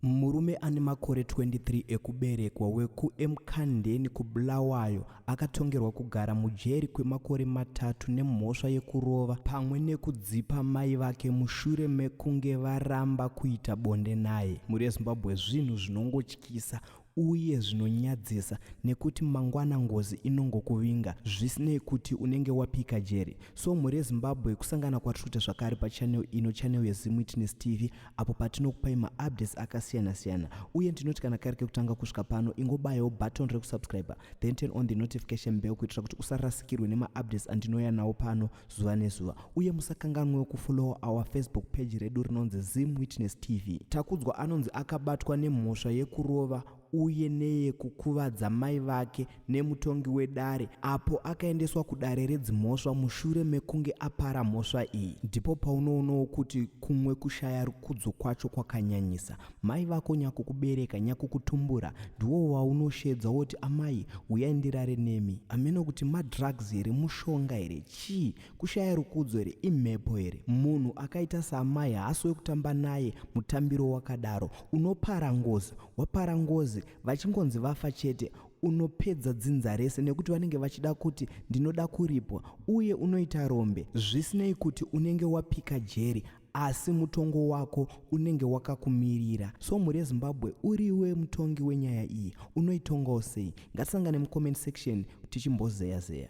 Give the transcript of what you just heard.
Murume ane makore 23 ekuberekwa wekuEmkhandeni kuBulawayo akatongerwa kugara mujeri kwemakore matatu nemhosva yekurova pamwe nekudzipa mai vake mushure mekunge varamba kuita bonde naye. Mhuri yeZimbabwe zvinhu zvinongotyisa uye zvinonyadzisa nekuti mangwana ngozi inongokuvinga zvisinei kuti unenge wapika jeri so mhuri yezimbabwe kusangana kwatiri kuita zvakare pachanel ino chanel yezimwitness tv apo patinokupai maupdates akasiyana-siyana uye ndinoti kana kari kekutanga kusvika pano ingobayawo button rekusubscribe then turn on the notification bell kuitira kuti usarasikirwe nemaupdates andinouya nawo pano zuva nezuva uye musakanganwewo kufollowa our facebook page redu rinonzi zim witness tv takudzwa anonzi akabatwa nemhosva yekurova uye neyekukuvadza mai vake nemutongi wedare apo akaendeswa kudare redzimhosva mushure mekunge apara mhosva iyi ndipo paunoonawo kuti kumwe kushaya rukudzo kwacho kwakanyanyisa mai vako nyakukubereka nyakukutumbura ndiwo waunoshedza woti amai huyai ndirare nemi ameno kuti madrugs here mushonga here chii Kushaya rukudzo here imhepo here munhu akaita saamai haasi wekutamba naye mutambiro wakadaro unopara ngozi wapara ngozi vachingonzi vafa chete unopedza dzinza rese nekuti vanenge vachida kuti ndinoda kuripwa uye unoita rombe zvisinei kuti unenge wapika jeri asi mutongo wako unenge wakakumirira so mhuri yezimbabwe uriwe mutongi wenyaya iyi unoitongawo sei ngatisangane mucomment section tichimbozeya zeya